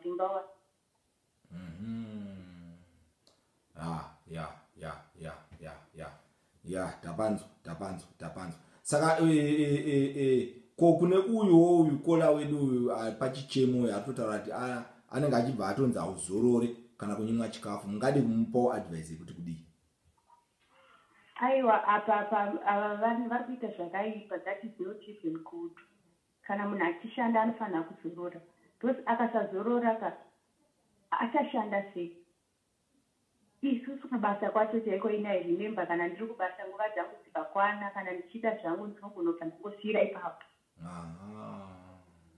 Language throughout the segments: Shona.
Simba wa. Mhm. Ah, ya, ya, ya, ya, ya. Ya, tapanzwa, tapanzwa, tapanzwa. Saka e e e e ko kune uyu wo uyu kola wedu uyu ah, pachichemo uyu atotaura kuti ah, anenge achibva atonzi auzorore kana kunyimwa chikafu. Mungadi kumupawo advice yekuti kudii? Aiwa apa apa ava vanhu vari kuita zvakaipa that is not even good. Kana munhu achishanda anofanira kuzorora because akasazorora ka achashanda sei. Isusu kubasa kwacho chaiko ini I remember kana ndiri kubasa nguva dzangu dzikakwana kana ndichida zvangu ndinogona kubva ndangosiira ipapo.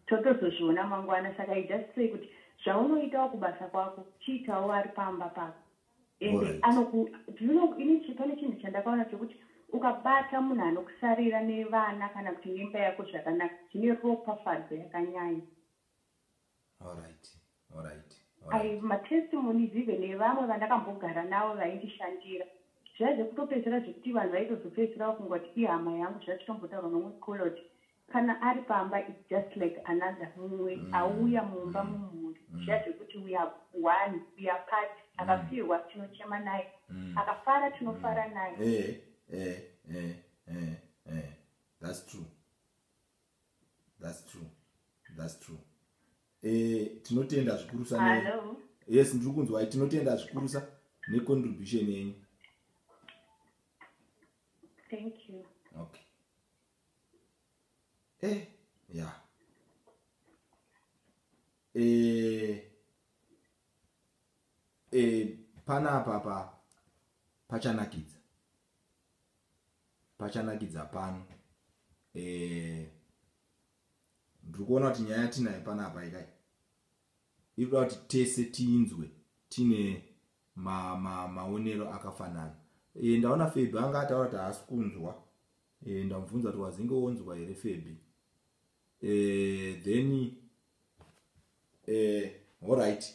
Totozozviona mangwana saka I just say kuti zvaunoitawo kubasa kwako chiitawo ari pamba pako. and right. anoku do you know ini pane chinhu chandakaona chekuti ukabata munhu anokusarira nevana kana kuti nemba yako zvakanaka zvine ropafadzo yakanyanya alright alright ai matestimonies even evamwe vandakambogara navo vaindishandira zvaive kutopedzera zvekuti vanhu vaitozopedzera vakungoti ihama yangu zvatitombotaura nomwe cola kuti Kana ari pamba it's just like another mumwe auya mumba mumhuri zviya zvekuti we are one, we are part, akafirwa tinochema naye, akafara tinofara naye. Ehe ehe ehe ehe ehe that's true that's true that's true eh tinotenda zvikurusa ne Hello. yes ndiri kunzwai tinotenda zvikurusa necontribution yenyu thank you okay Eh, yeah. Eh, eh, panapa pa pachanakidza pachanakidza pano eh, ndiri kuona kuti nyaya yatinayo panapa ikai ikuda kuti tese tinzwe tine maonero ma, ma akafanana e, ndaona feb anga ataura kuti haasi kunzwa Eh ndamubvunza kuti wazinge wonzwa here Febby. Eh then eh all right.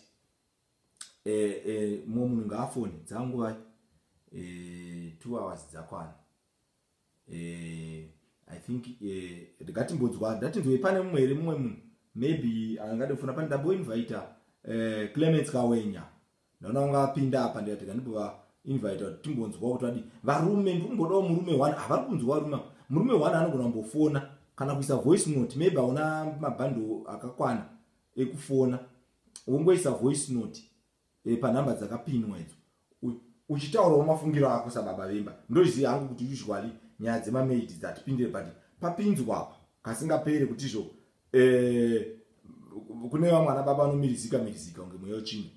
Eh eh mumwe munhu ngaafone dzangu vai. Eh 2 hours dzakwana. Eh I think eh ndikatimbodzwa ndatinzwe pane mumwe here mumwe munhu maybe angade kufona pane ndabo invite eh Clements Kawenya. Ndaona vanga vapinda apa ndikati rega ndibova invita kuti timbonzwawo kuti vadii. Varume ndiri kumbodawo murume one havari kunzwa varume ava. Murume one anogona kumbofona kana kuisa voice note maybe hauna mabhandle akakwana ekufona wongoisa voice note e, panhamba dzakapinwa idzo uchitaurawo mafungiro ako sababa vemba ndoziva hangu kuti usually nyaya dzemamaid dzatipindire but papinzwa apa kasingapere kuti izvo eh, kune vamwe ana baba anomirizika mirizika kunge mweya wechimwe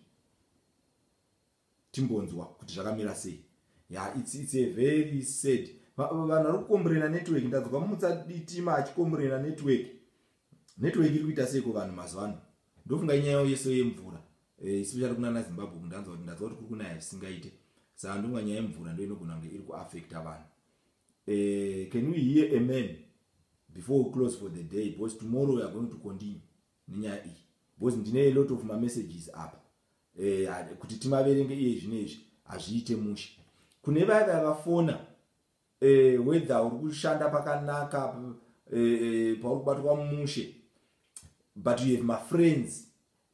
timbonzwa kuti zvakamira sei ya it's, it's a very sad vanhu vari kukomburena network ndadzwa mumutsa ditima achikomburena network network iri kuita seiko vanhu mazuva ano ndofunga inyaya yeso yemvura eh, especially kunana zimbabwe kundanzwa kuti ndadzwa kuti kuri kunaya zvisingaite saa ndonga nyaya yemvura ndoinogona kunge iri kuaffecta vanhu Uh, can we hear a man before we close for the day because tomorrow we are going to continue nenyaya iyi because ndine a lot of mamessages apa uh, kuti timaverenge iye zvino izvi hazviite mushe kune vaya vaya vafona uh, eh, whether uri kushanda pakanaka uh, uh, pauri kubatwa mushe but you have mafriends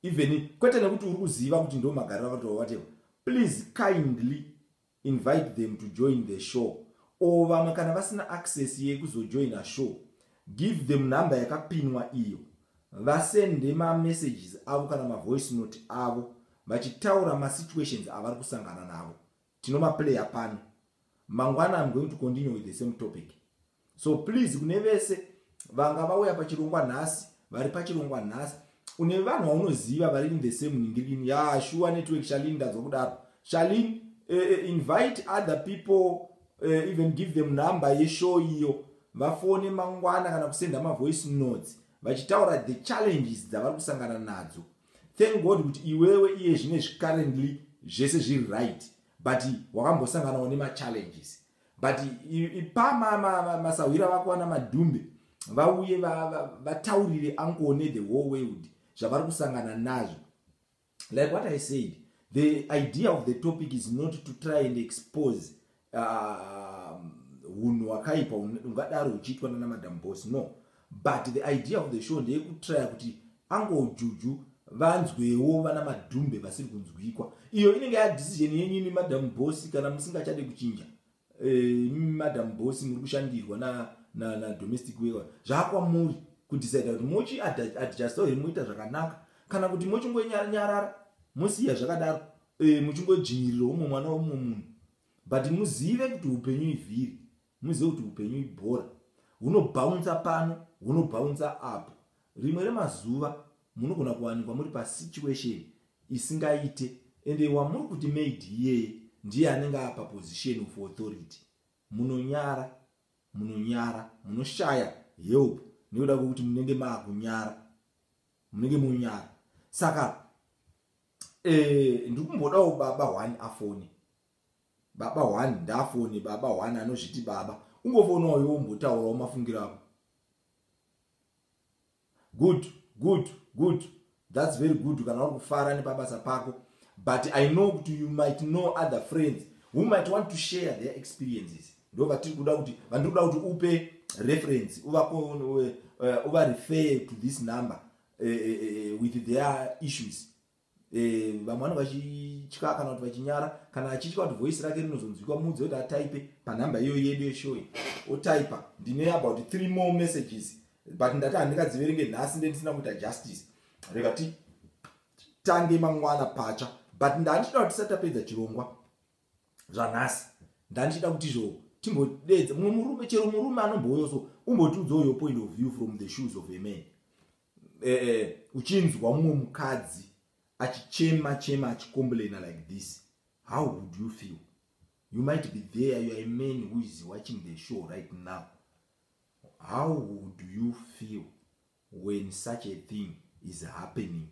even kwete nekuti uri kuziva kuti ndo magariro avatova whatever please kindly Invite them to join the show or vamwe kana vasina access yekuzojoina show give them number yakapinwa iyo vasende ma messages avo kana ma voice note avo vachitaura ma situations avari kusangana navo. Tinomaplayer pano. Mangwana I'm going to continue with the same topic. so please kune vese vanga vauya pachirongwa nhasi vari pachirongwa nhasi une vanhu vaunoziva vari in the same ningirini ya shuwa network shalin ndadzwa kudaro shalin uh, eh, eh, invite other people uh, even give them number yeshow iyo vafone mangwana kana kusenda mavoice notes vachitaura the challenges dzavari kusangana nadzo thank god kuti iwewe iye zvine zvicarrently zvese zviri right but wakambosanganawo nemachallenges but ipa masahwira vako vana madhumbe vauye vataurire ankone the whole world zvavari kusangana nazvo like what i said the idea of the topic is not to try and expose uh, hunhu hwakaipa ungadaro uchiitwa nana madam bos no But the idea of the show ndeyekutraya kuti uncle juju vanzwewo vana madhumbe vasiri kunzwikwa iyo inenge ya decision yenyu imi madam boss kana musingachade kuchinja eh, imi e, madam boss muri kushandirwa na, na, na domestic wewa zvakwamuri kudecide kuti mochi adjusto here moita zvakanaka kana kuti mochingonyarara mosiya zvakadaro e, eh, muchingodzvinyirira umwe mwana weumwe munhu but muzive kuti upenyu ivhiri Muzive kuti hupenyu ibhora. Hunobhaunza pano, hunobhaunza apo. Rimwe remazuva munogona kuwanikwa muri pasituation isingaite ende wamuri kuti maid iyeye ndiye anenge ava paposition of authority. Munonyara, munonyara, munoshaya help nekuda kwekuti munenge maakunyara. Munenge monyara. Saka eh, ndiri kumbodawo baba one afone. Baba one ndafone baba one anozviti baba ungofona uyo wombotaurawo mafungiro ako. Good good good that's very good kana uri kufara nepabasa pako but i know kuti you might know other friends who might want to share their experiences ndo vatiri kuda kuti vandiri kuda kuti upe reference uvakonwe eh, uvarefer to this number uh, uh, with their issues Eh, vamwe vanenge vachitya kana kuti vachinyara kana achitya kuti voice rake rinozonzwikwa muudze kuti ataipe panhamba iyoyo yedu yeshowe otaipa ndine about three more messages but ndati handingadziverenge nhasi ndendisina kuita justice rega ti tange mangwana patsva but ndandichida kuti tisati tapedza chirongwa zvanhasi ndandichida kuti izvo timbodeedza mumwe murume chero murume anombouyoso umbotiudzawo your point of view from the shoes of a man eh, eh, uchinzwa mumwe mukadzi achichema chema achicomplaina like this how would you feel you might be there you are a man who is watching the show right now how would you feel when such a thing is happening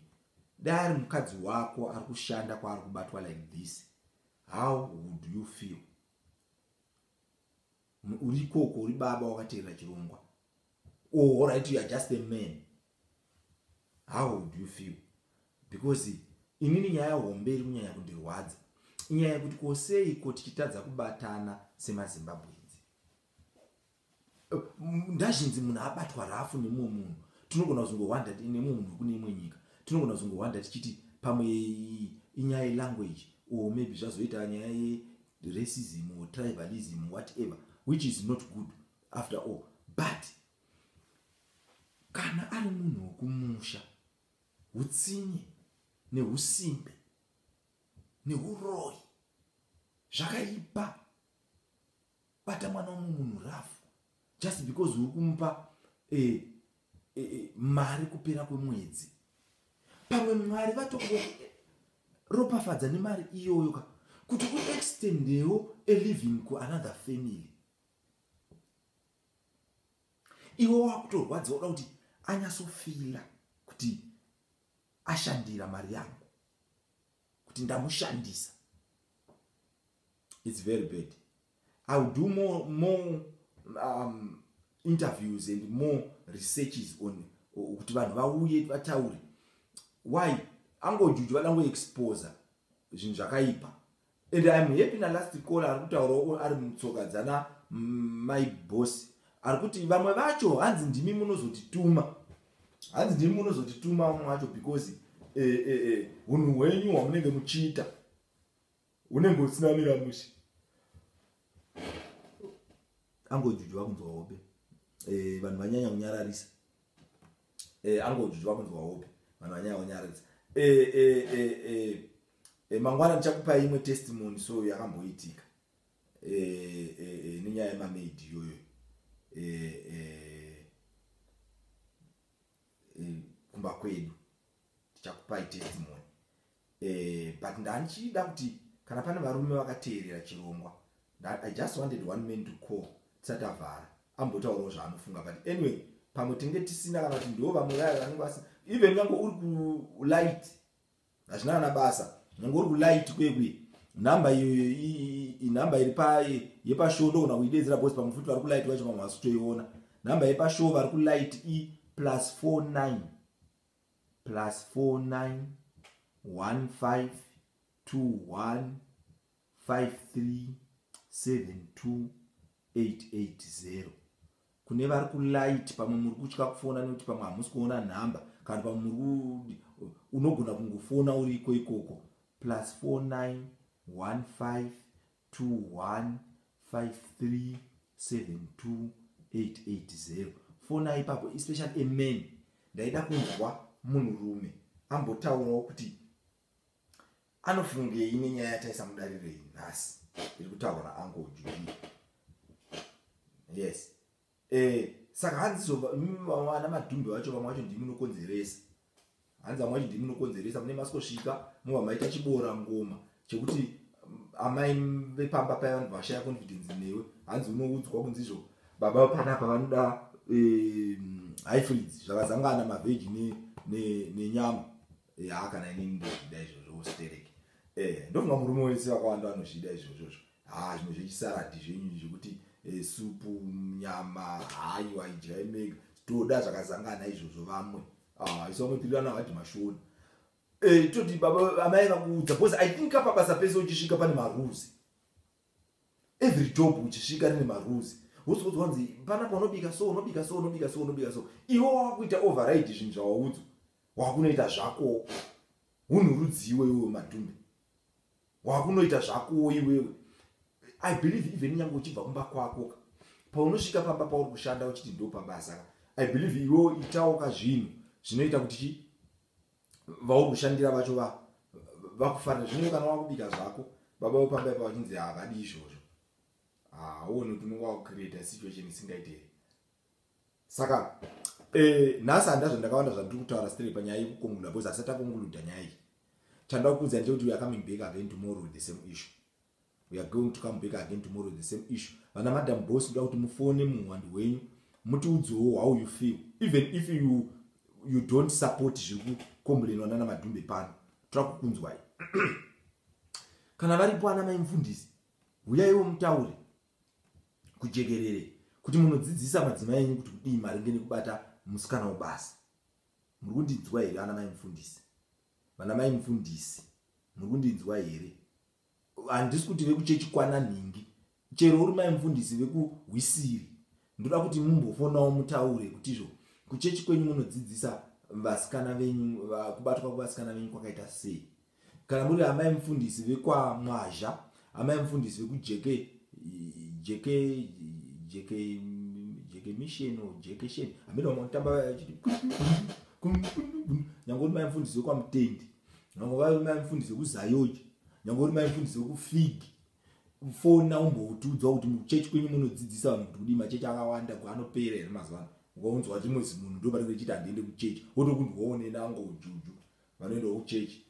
dai ari mukadzi wako ari kushanda kwaari kubatwa like this how would you feel Umm uri ikoko uri baba wakateerera chirongwa. Oh alright you are just a man. How would you feel? Because inini nyaya hombe iri kunyanya kundirwadza. Inyaya yekuti ko sei ko tichitadza kubatana semaZimbabwenzi. Eh, Ndazhinzi munhu abatwa rafu nemumwe munhu. Tinogona kuzongowanda nemumwe munhu wekune imwe nyika. Tinogona kuzongowanda tichiti pamwe inyaya yelanguage or maybe zvazoita nyaya ye racism or tribalism whatever which is not good after all but kana ari munhu wekumusha utsinye neusimbe neuroyi zvakaipa bata mwana womwe munhu rafu just because uri kumupa eh, eh, eh, mari kupera kwemwedzi pamwe mwari vatongo ropafadza nemari iyoyo ka kuti uextendewo a living kuanother family iwe wakutorwadziwa uda kuti anyasofila kuti ashandira mari yangu kuti ndamushandisa it's very bad i will do more more um, interviews and more researches on kuti vanhu vauye vataure why angojuju vada ngoexposa zvinhu zvakaipa and iam happy nalast call ari kutaurawo ari mutsoka dzana my boss ari kuti vamwe vacho hanzi ndimi munozotituma hanzi ndimi munozotituma vamwe vacho because eh, eh, eh, unhu hwenyu hwamunenge muchiita unenge usina mira mushe angojuju vakunzwa hope eh, vanhu vanyanya kunyararisa eh, angojuju vakunzwa hope vanhu vanyanya kunyararisa eh, mangwana ndichakupai imwe testimony so yakamboitika nenyaya yemamaidi iyoyo kumba kwedu tichakupai testimony Eh but ndandichida kuti kana pane varume vakateerera chirongwa that I just wanted one man to call tisati avhara ambotaurawo zvaanofunga but anyway pamwe tinge tisina kana kuti ndiwo vamwe vaya vanenge vasina even nyange uri kulight hazvina kana basa nyange uri kulight kuye kuye nhamba iyoyo inhamba iri yepashow ndogona kuidedzera bcause pamwe futi vari kulight vacho vamwe vasitoiona nhamba yepashow vari kulight i plus 49 +491521537288 kune vari kulight pamwe muri kutya kufona nekuti pamwe hamusi kuona nhamba kana pamwe muri unogona kungofona uriko ikoko plus 4915 21537288 fona ipapo especially a man ndaida kunzwa munhu rume ambotaurawo kuti anofungei nenyaya yataisa mudarirei nhasi iri kutaurwa naango juji yes Eeh saka hanzi so imi vana madhumbe vacho vamwe vacho ndimi munokonzeresa hanzi vamwe vacho ndimi munokonzeresa mune masikosvika mova maita chibora ngoma chekuti amai vepamba paye vanobva vashaya confidence newe hanzi unoudzwa kunzi izvo baba panapa vanoda highfrids zvakazangana mavheji nenyama haa kana inini ndozvida izvozvo ustereki eh, ndofunga murume wese vakawanda vanozvida izvozvozvo Haa zvimwe zvechisaradhi zvenyu izvi zvekuti eh, supu nyama hayo haidyai mega toda zvakazangana izvozvo vamwe ah, isu vamwe tirirana vati mashoni eh, toti baba amai vakuudza because i think apa basa pese uchisvika pane marules every job uchisvika rine marules wozoudza wanzi panapa unobika so unobika so unobika so unobika so iwe wakuita override zvinhu zvawaudzwa wakunoita zvako unhu rudziwo iwe madhumbe wakunoita zvakowo iwewe i believe even nyange uchibva kumba kwako ka paunosvika pamba pauri kushanda uchiti ndo pabasa ka i believe iwewo itawo ka zvinhu zvinoita kuti chi vauri kushandira vacho va vakufarira zvino kana wakubika zvako baba vepamba ipa vachinzi havadi izvozvo haone ah, kuti unenge wakucreata situation isingaite here saka eh, nhasi handa zvandakawanda zvandiri kutaura stre panyaya yekukonguluda bcause asati akonguluda nyaya iyi chandaa kuudza ndechekuti weare coming back again tomorrow with the same issue weare going to come back again tomorrow with the same issue vana madam boss ndoda kuti mufone muhwandi hwenyu mutiudzowo how you feel even if you, you don't support zviri kukombulenwa nana madhumbe pano toda kukunzwai kana varipo ana maimfundisi huyaiwo mutaure kujekerere kuti munodzidzisa madzimai enyu kuti kudii maringe nekubata musikana webasa muri kundinzwa here ana mai mufundisi vana mai mufundisi muri kundinzwa here handisi kuti vekuchechi kwana nhingi chero uri mai mufundisi vekuhwisiri ndoda kuti mumbofonawo mutaure kuti izvo kuchechi kwenyu munodzidzisa vasikana venyu kubatwa kwevasikana venyu kwakaita sei Kana muri amai mufundisi vekwamwazha, amai mufundisi vekujeke jeke jeke jeke mission or jeke sheni, amene vanotamba vachiti nyange uri mai mufundisi wekwamutendi, nyange vari mai mufundisi wekuzayoji, nyange uri mai mufundisi wekufigi fona umboutiudzwa kuti muchechi kwenyu munodzidzisa vanhu kuti kudii machechi akawanda anopera here mazuva ano ukaunzwa chimwe zimunhu ndo panenge chiti handiende kuchechi wotokunzwa wonena angojuju vanoendawo kuchechi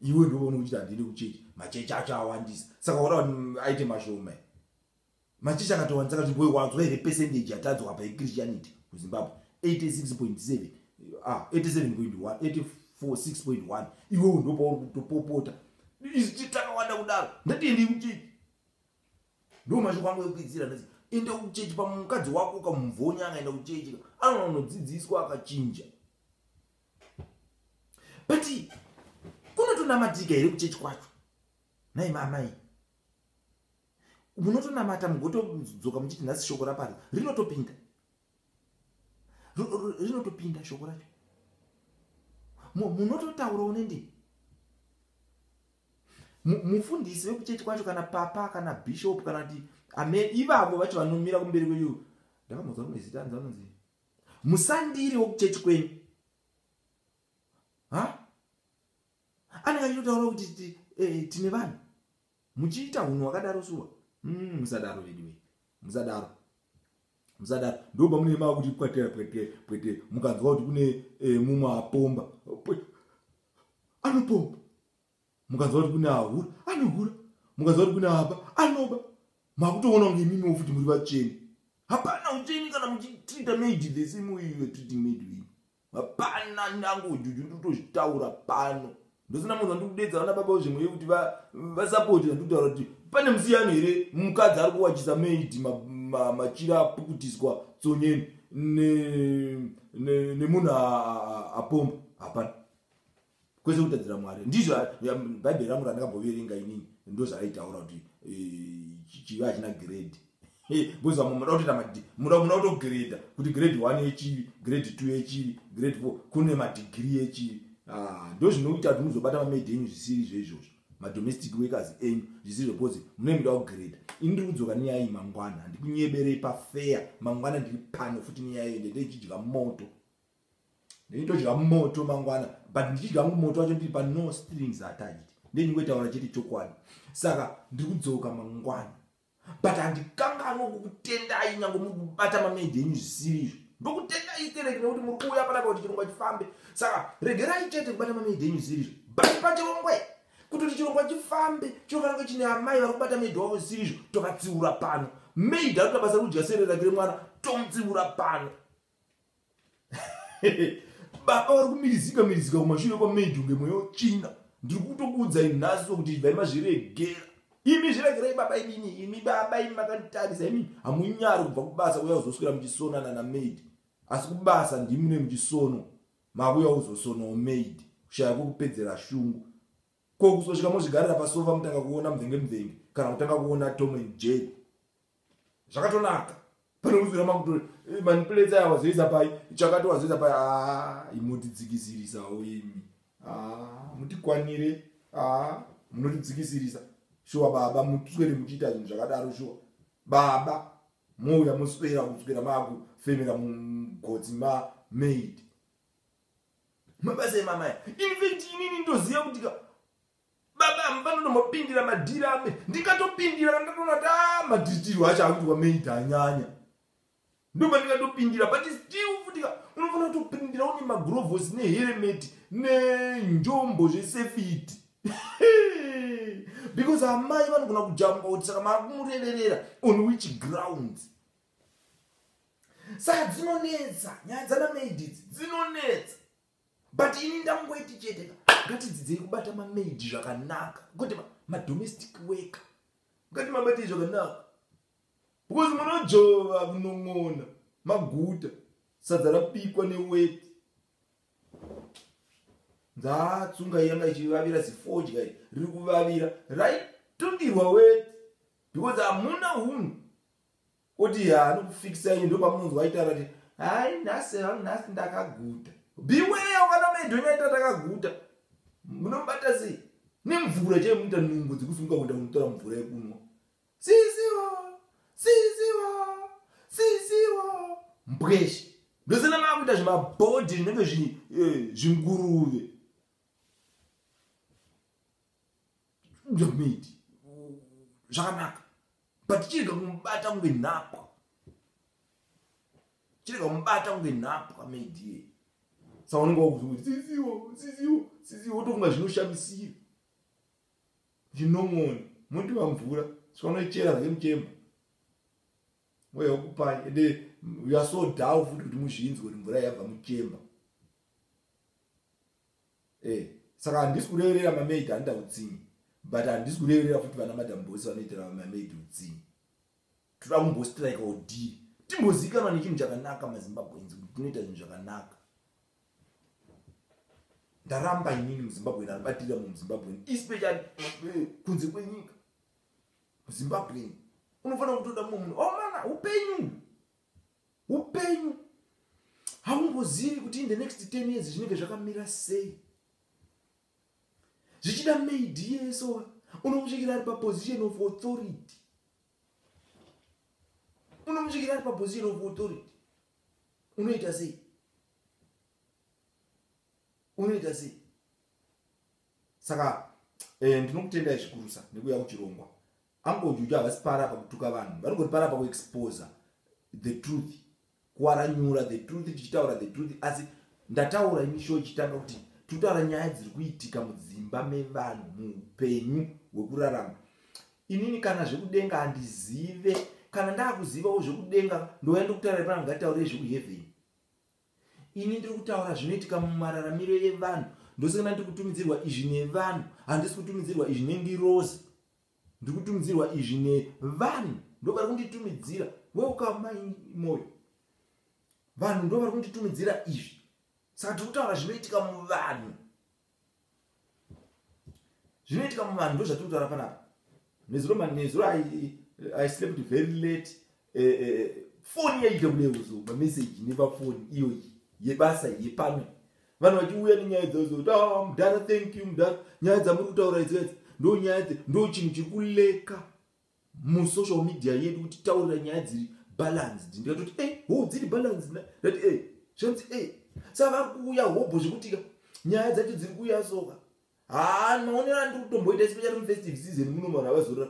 iwe ndovaona uchiti handiende kuchechi machechi acho awandisa saka wada mm, aite mashoma machechi akatowandisa kati boy wanzwa here percentage yatadzwa apa yechristianity kuzimbabwe 86.7 ah 87.1 846.1 iwewo ndopauri kutopopota iziti takawanda kudaro ndatiendei kuchechi ndo mashoko angu ekuidzira ndati enda kuchechi pamukadzi wako ukamubvonya akaenda kuchechi anonodzidziswa akachinja but kunotonamatiga here kuchechi kwacho nai mamai munotonamata mugotodzoka muchiti nhasi shoko rapari rinotopinda rinotopinda shoko racho munototaurawo nendii mufundisi wekuchechi kwacho kana papa kana bishop kana kuti ame ivavo vacho vanomira kumberi kweyu ndakambonzwa rimwe zita anzi anonzi Musandiri wekuchechi kwenyu. Ha? Anenge achitotaura kuti eh, tine vanhu. Muchiita hunhu wakadaro shuwa. Mm, musadaro veduwe. Musadaro. Musadaro. Ndoba mune mava kuti pwete pwete pwete mukanzwa kuti kune eh, mumwe apomba. Anopomba. mukanzwa kuti kune ahura anohura mukanzwa kuti kune aba anoba makutoona kunge imimiwo futi muri vatsveni hapana ucheni kana muchitrita maidi the same way you're treating maidi wenyu hapana language uju ndikutozvitaura pano ndosina munhu andikudedza vana baba zvimwe yekuti vasapoti andikutaura kuti pane musiyano here mukadzi ari kuwachisa maidi machira apukutiswa tsonyeni nemunhu apomba hapana kwese kutadzira mwari ndizvo bhaibheri rangu randakaboverenga inini ndozvaraitaura kuti eh, chivi hachina grade because vamwe munoda kutoita mad munoda munoda kutogreda kuti grade one yechivi grade two yechivi grade four kune madigiri yechivi ah, ndo zvinoita kuti muzobata mamaid enyu zvisiri izvo izvozvo madomestic workers enyu zvisiri zvo because munenge muda kugreda ini ndiri kudzoka nenyaya iyi mangwana handikunyeberei pafeya mangwana ndiri pano futi nenyaya iyo ndendeichidya moto Ndaitodya moto mangwana but ndichidya hangu moto wacho ndiri pa no strings attached ndendingoitaura chete chokwadi saka ndiri kudzoka mangwana but handikanganwe kukutendai nyange muri kubata mameji enyu zvisiri izvo ndokutendai stereki nekuti muri kuuya panapa kuti chirongwa chifambe saka regerai chete kubata mameji enyu zvisiri izvo bati pachirongwe kuti kuti chirongwa chifambe chinofanira kunge chine amai vari kubata meidi wavo zvisiri izvo tovatsiura pano meidi anoita basa rekudya sere rake remwana tomutsiura pano baba vari kumirizika mirizika kumashure kwamaid unge mweya wetsvina ndiri kutokuudzai nhasi kuti ibvai mazviregera imi zviregerai baba imimi imi baba imi makanditarisa imi hamunyari kubva kubasa kuya kuzoswera muchisonana namaid asi kubasa ndimune muchisono makuya kuzosonawo maid kushaya kwekupedzera shungu Ko kuzosvika mozvigarira pasofa mutanga kuona mvenge mvenge kana kutanga kuona Tom and Jerry. Zvakatonaka. Pane kuzwira makuto eh, manipulate aya wazoisa pai chakati wazoisa pai ah imotidzikisirisawo imi. Ah mutikwanire ah munotidzikisirisa. Shuwa baba mutswere muchiita zvinhu zvakadaro shuwa. Baba mouya moswera kuswera maku femera mugotsi ma maid. mabasa emamaya infact inini ndoziva kuti ka baba amy vanotombopindira madhiri ame ndikatopindira kandatoona kuti a madhiritirwo acho akuti wamaita anyanya ndoba ndikatopindira but still futi ka unofanira kutopindira une magrovosi neheremeti nenjombo zvesefiti because amai vanogona kujamba kuti saka maakumurererera on which grounds saka dzinonetsa nyaya dzana maid idzi dzinonetsa but ini ndamungoiti chete ka ngatidzidzei kubata mamaid zvakanaka kuti madomestic worker ngati mabatei zvakanaka because munojova kunon'ona maguta sadza rabikwa neweti ndatsunga yanga ichivavira zifodya riri kuvavira raitundirwa weti because hamuna hunhu Oti yaa anokufikisa iye ndopamunonzwa aitaura kuti hai nhasi hangu nhasi ndakaguta. Beware vana mai Dhonye aita takaguta. Munomubata sei? Nemvura chaiyo munoita nungo dzekusunga kuenda kunotora mvura yekunwa. Sisiwo! Sisiwo! Sisiwo! Mbweshe. Ndozana makuita zvimabhodhi zvinenge eh, zvinguruve. ndomiti zvakanaka but chirega kumubata kunge nhapwa chirega kumubata kunge nhapwa maidie sa unenge wakuti siziwo siziwo siziwo wotofunga zvinoshamisira zvinomoni muti vamvura sikanochera zake muchemba mweya wokupai ende uyasodawo futi kuti muzvinzwe kuti mvura yabva muchemba Eh saka handisi kureverera mamaid anoita utsinye but handisi kureverera futi vana madam bosi vanoitira mamaid utsinye toda kumbostrike odii timbozivikanwa nechinhu chakanaka mazimbabweins kuti tinoita zvinhu zvakanaka ndaramba inini muzimbabwen anobatirira mu muzimbabwen especially eh, kunze kwenyika muzimbabwen unofanira kutoda mumwe munhu omana oh, upenyu Upenyu haungozivi kuti in the next 10 years zvinenge zvakamira sei. Zvichida maid yeso unomusvikira ari paposition of authority. Unomusvikira ari paposition of authority. Unoita sei? Unoita sei? Saka eh, ndinokutendai zvikurusa nekuya kuchirongwa. Uncle Juju havasi para pakutuka vanhu vanongori para paku exposer the truth kuaranyura the truth tichitaura the truth asi ndataura ini show ichitanga kuti tutaura nyaya dziri kuitika mudzimba mevanhu muupenyu hwekurarama inini kana zvekudenga handizive kana ndakuzivawo zvekudenga ndouya ndokutaura ipana ngatitaurire zvekuhevheni ini ndiri kutaura zvinoitika mumararamiro yevanhu ndosangana ndiri kutumidzirwa izvi nevanhu handisi kutumidzirwa izvi nengirozi Ndiri kutumidzirwa izvi nevanhu ndovari kunditumidzira welcome mai moyo vanhu ndovari kunditumidzira izvi saka tiri kutaura zvinoitika muvanhu zvinoitika muvanhu ndozvatiri kutaura panapa nezuro nezuro i slept very late eh, eh, eh foni yaita kune uzo mameseji nepafoni iyoyi yebasa yepamwe vanhu vachiuya nenyaya dzaozo kuti ah, mudhara thank you mudhara nyaya dzamuri kutaura idzidzi ndo nyaya dze ndo chinhu chiri kuleka musocial media yedu kuti taurira nyaya dziri balanced ndikatoti e eh, ho dziri balanced ndati e eh, zvanzi e eh, sa vari kuuya hobho zvekutika nyaya dzacho dziri kuuya soka haa maonero andiri kutomboita chipo chari mufestive season muno vanhu avazora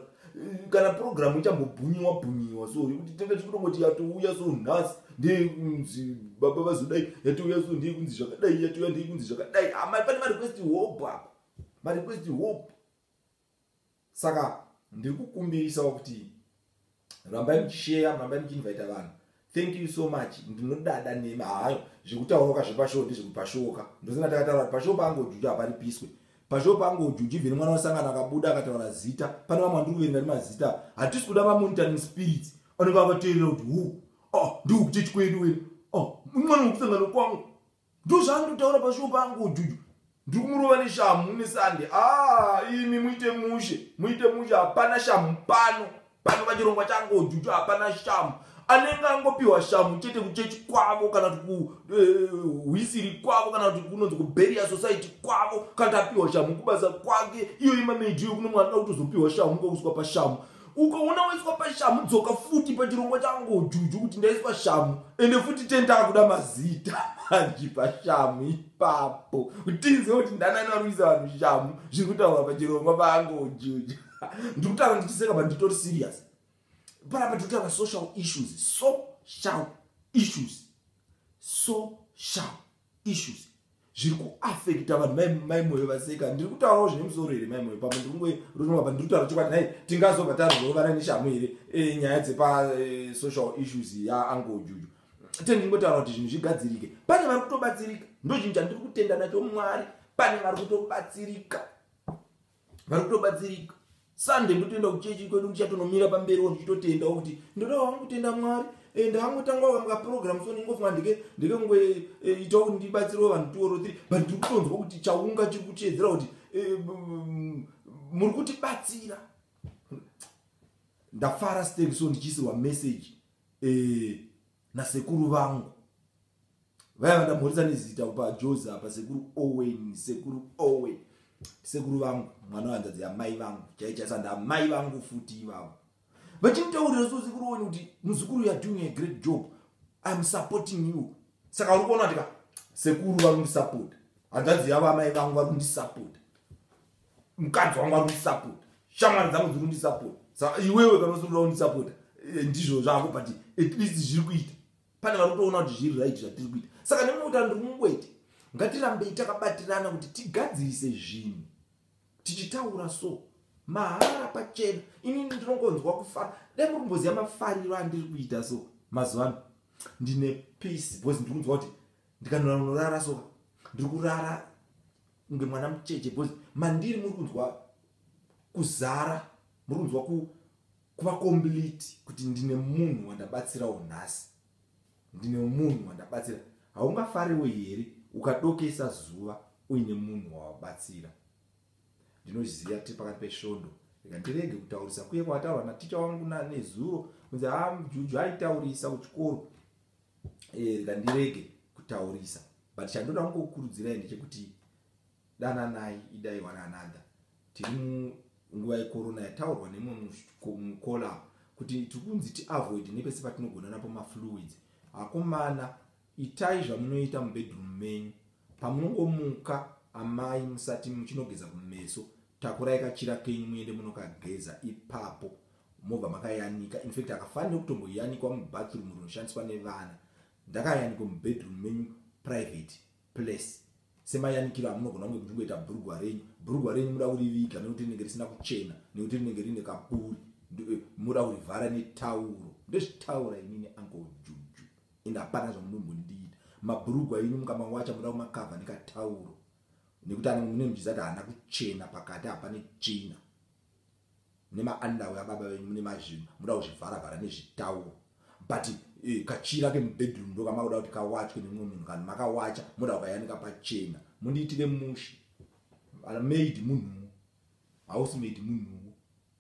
kana program ichambobhunyiwa bhunyiwa so yekuti tenge tichitongoti yatouya so nhasi ndeyekunzi baba vazodai yatouya so ndeyekunzi zvakadai yatouya ndeyekunzi zvakadai amai ah, pane marequest hope apa marequest hope Saka ndiri kukumbirisawo kuti rambai muchisheya rambai muchiinvaita vanhu thank you so much ndinodada nemi hayo zvekutaurauka zvepashoo ndezvekupashooka ndosina takataura kuti pashoo pange ujuju haparipiswe pashoo pange ujuju vhini mwana wasangana akabuda akataura zita pane vamwe andiri kuverenga ndi mazita hatisi kuda mamonitoring spirits anenge avateerera kuti hu oh, ndikukuti chikwedu we oh, mwana wekusangana kwangu ndozvaandotaura pashuwo pangu ujuju ndikumurova neshamhu nesande ah, imi muite mushe muite mushe hapana shamhu pano pano pachirongwa changu ujuju hapana shamhu anenge angopiwa shamhu chete kuchechi kwavo kana kuti kuhwisiri eh, kwavo kana kuti kunonzi kuberia society kwavo kana kuti apiwa shamhu kubasa kwake iyo imameidhiyo kuno mwana utozopiwa shamhu kwakuswa pashamhu ukaona waiswa pashamu dzoka futi pachirongwa changu juju kuti ndaiswa shamu ende futi tendaa kuda mazita manji pashamu ipapo kutinze kuti ndanani vari kuisa vanhu shamu zviri kutaurwa pachirongwa pangu juju ndiri kutaura ndichiseka but nditori serious panapa tiri kutaura social issues social issues social issues zviri kuafekta vanhu mai moyo vaseka ndiri kutaurawo zvine musoro here mai moyo pamwe ndikungoronova pa ndiri kutaura chokwadi nhai tingazobva tarovana neshamu here e, nyaya dzepasocial e, issues yaangle juju tende ndingotaura kuti zvinhu zvigadzirike pane vari kutobatsirika ndochinhu chandiri kutenda nacho mwari pane vari kutobatsirika vari kutobatsirika sunday ndotoenda kuchechi kwedu ndichatonomira pamberiwo ndichitotendawo kuti ndodawo hangu kutenda mwari eh, ndangotanga wanga program so ndingofunga ndike ndike kunge eh, itawo kuti ndibatsirewo vanhu two or three but ndiri kutonzwa kuti chaunga chiri kuchiedzera kuti eh, muri kutibatsira ndafara stake so ndichiisirwa message nasekuru vangu vaya vandamhorisa nezita upa jozi apa sekuru owen sekuru owen sekuru vangu mwana wehanzvadzi yamai vangu chaichaisa ndamai vangu futi ivavo vachimutaurira so sekuru owen kuti muzukuru youare doing a great job iam supporting you saka uri kuona kuti ka sekuru vari kundisapota hanzvadzi yavo amai vangu vari kundisapota mukadzi wangu arundisapota shamwari dzangu dzirundisapota sa iwewe kana usiuda undisapota eh, ndizvo zvako but at least zviri kuita pane vari kutoona kuti zviri right zvatiri kuita saka nemwe kuti andiri mungwete ngatirambei takabatirana kuti tigadzirise zvinhu tichitaura so mahara pachena inini ndinongonzwa kufara dai muri kumboziva mafariro andiri kuita so mazuva ano ndine peace because ndiri kunzwa kuti ndikanoranorara so ndiri kurara kunge mwana mucheche because mandiri muri kunzwa kuzara muri kunzwa ku kuva complete kuti ndine munhu wandabatsirawo nhasi ndine munhu wandabatsira haungafariwo here ukadokesa zuva uine munhu wawabatsira ndinoziva tiri pakati pesvondo rega ndirege kutaurisa kuye kwataurwa naticha wangu nezuro kunzi ha ah, juju aitaurisa kuchikoro eh, rega ndirege kutaurisa but chandoda kungokurudzirai ndechekuti dananai idai one another tiri munguva yekorona yataurwa nemwe mukola kuti tiri kunzi tiavoid nepese patinogona napo mafluids akomana itai zvamunoita mubedroom menyu pamunongomuka amai musati muchinogeza kumeso takurai kachira kenyu muende munokageza ipapo mobva makayanika infact akafanira kutomboyanikwa mubathroom rinoshandiswa nevana ndakayanikwa mubedroom menyu private place semayanikiro amunogona kunge muchingoita bhurugwa renyu bhurugwa renyu muda kuriviga nekuti rinenge risina kuchena nekuti rinenge rine kapuri eh, muda kurivhara netauro ndezvitaura inini uncle juju ende hapana zvamunombondiita mabhurugwa enyu mukamawacha muda kumakavha nekatauro nekuti anenge mune muchiziva kuti haana kuchena pakati hapane tsvina mune ma underwear ababa venyu mune mazvinhu munoda kuzvivhara vhara nezvitauro but eh, kachira kemubedroom ndo kamakuda kuti kawachwe nemumwe munhu kana makawacha moda kukayanika pachena mundiitire mushe ana maid munhuwo hausi maid munhuwo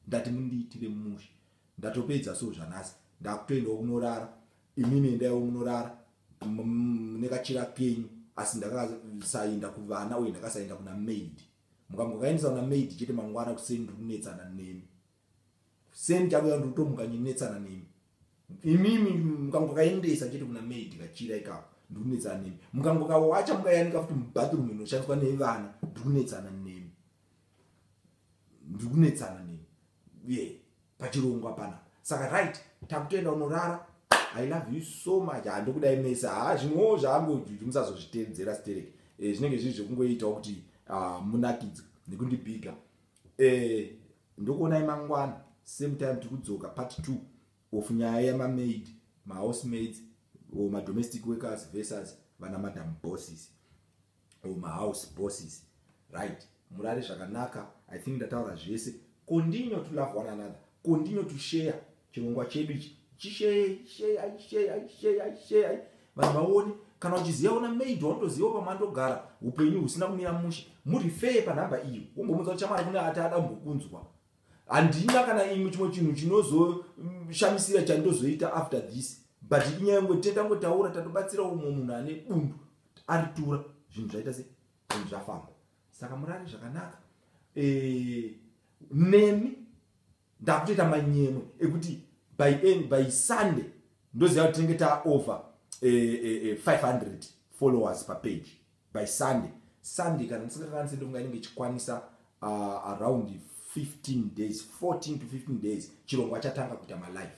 ndati mundiitire mushe ndatopedza so zvanhasi ndakutoendawo kunorara imimi endaiwo munorara nekachira kenyu asi ndakasaenda kuvana uye ndakasaenda kuna maid Mukangokaendesa kuna maid chete mangwana kuseni ndiri kunetsana nemi. Kuseni chakuya ndiri kutomuka ndinetsana nemi. Imimi mukangokaendesa chete kuna maid kachira ikako ndiri kunetsana nemi. Mukangokawacha mukayanika futi mubathroom inoshandiswa nevana ndiri kunetsana nemi. Ndiri kunetsana nemi. Yeah. pachirungu hapana saka right takutoenda unorara i love you so much ha ndokudai mese ha zvimwewo zvaangojuju musazozviteedzera stereki e, eh, zvinenge zviri zvekungoitawo kuti uh, munakidze nekundibiga e, eh, ndokuonai mangwana same time tiri kudzoka part two of nyaya yamamaid mahouse maids or madomestic workers versus vana madam bosses or ma house bosses right murare zvakanaka i think ndataura zvese continue to love one another continue to share chirongwa chedu ichi chishei shei ai shei ai shei ai shei ai vanhu vaone kana uchiziva una maid waunotoziva pamwe andogara upenyu husina kumira mushe murifee panhamba iyo wombomuudza kuti chamwari kune ati ada mbokunzwa handina kana imwe chimwe chinhu chinozoshamisira chandozoita after this but inyaya yongotenda ngotaura tatobatsira umwe munhu ane bundu aritura zvinhu zvaita se zvinhu zvafamba saka murare zvakanaka eh, nemi ndakutoita manyemwe ekuti by end by sunday ndoziva kuti tinenge taover 500 eh, eh, followers papage by sunday sunday kana ndisingakanise ndofunga inenge ichikwanisa ah, around 15 days 14 to 15 days chirongwa chatanga kuita malife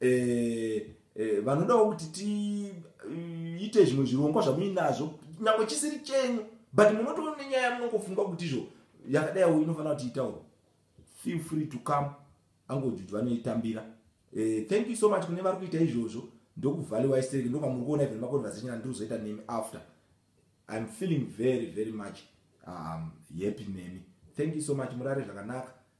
eh, eh, vanodawo kuti tiite eh, zvimwe zvirongwa zvamuinazvo nyange chisiri chenyu but munotoona nenyaya munongofunga kuti izvo yakadaiwo inofanira kuti itauro feel free to come angozi kuti vanoitambira eh, thank you so much kune vari kuita izvozvo ndokuvhaliwa istereki ndokamuri kuona even maconversation andiri kuzoita nemi after iam feeling very very much um, happy nemi thank you so much murare zvakanaka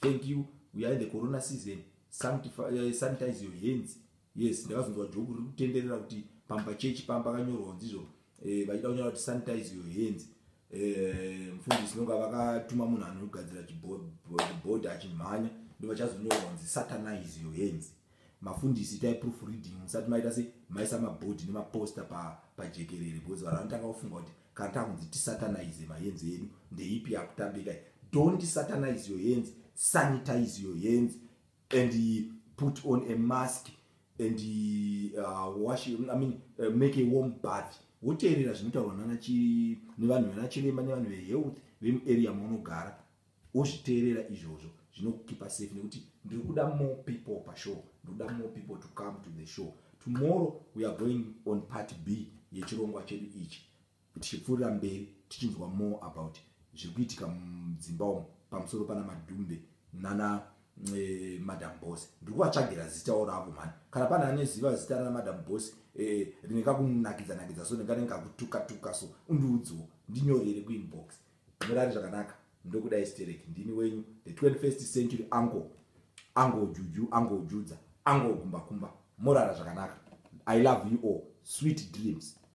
Thank you we are in the corona season eh, sanitize your hands yes ndakazonzwa joku riri kutenderera kuti pamba chechi pamba kanyorwa kunzi izvo eh, vachida kunyora kuti sanitize your hands eh, mufundisi nonga vakatuma munhu anogadzira chibhodhi achimhanya ndo vachazonyorwa kunzi satanize your hands mafundisi itai proof reading musati maita se maisa mabhodhi nemaposta pajekerere because vanhu vanotanga kufunga kuti Kata kunzi tisatanaize mahenzi edu ndeipi yakutambika iyi don't satanize your hands sanitize your hands and put on a mask and uh, wash I mean, uh, make a warm bath woteerera zvinotaurwa nana nevanhu vana chiremba nevanhu vehealth vemuarea maunogara Wozviteerera izvozvo zvinokukeeper safe nekuti ndiri kuda more people pashow. Ndiri kuda more people to come to the show. Tomorrow we are going on part B yechirongwa chedu ichi tichipfuurira mberi tichinzwa more about zviri kuitika mudzimba umu pamusoro pana Madhumbe nana eh, madam boss ndiri kuvatsvagira zitawo ravo mhani kana pane aneziva zita rana madam boss eh, rinekakunakidza nakidza so ndinganenge kakutuka tuka so undiudziwo ndinyorere kuinbox Murare zvakanaka ndokudai sterek ndini wenyu the 21st century uncle uncle juju uncle judza uncle gumbakumba morara zvakanaka i love you all sweet dreams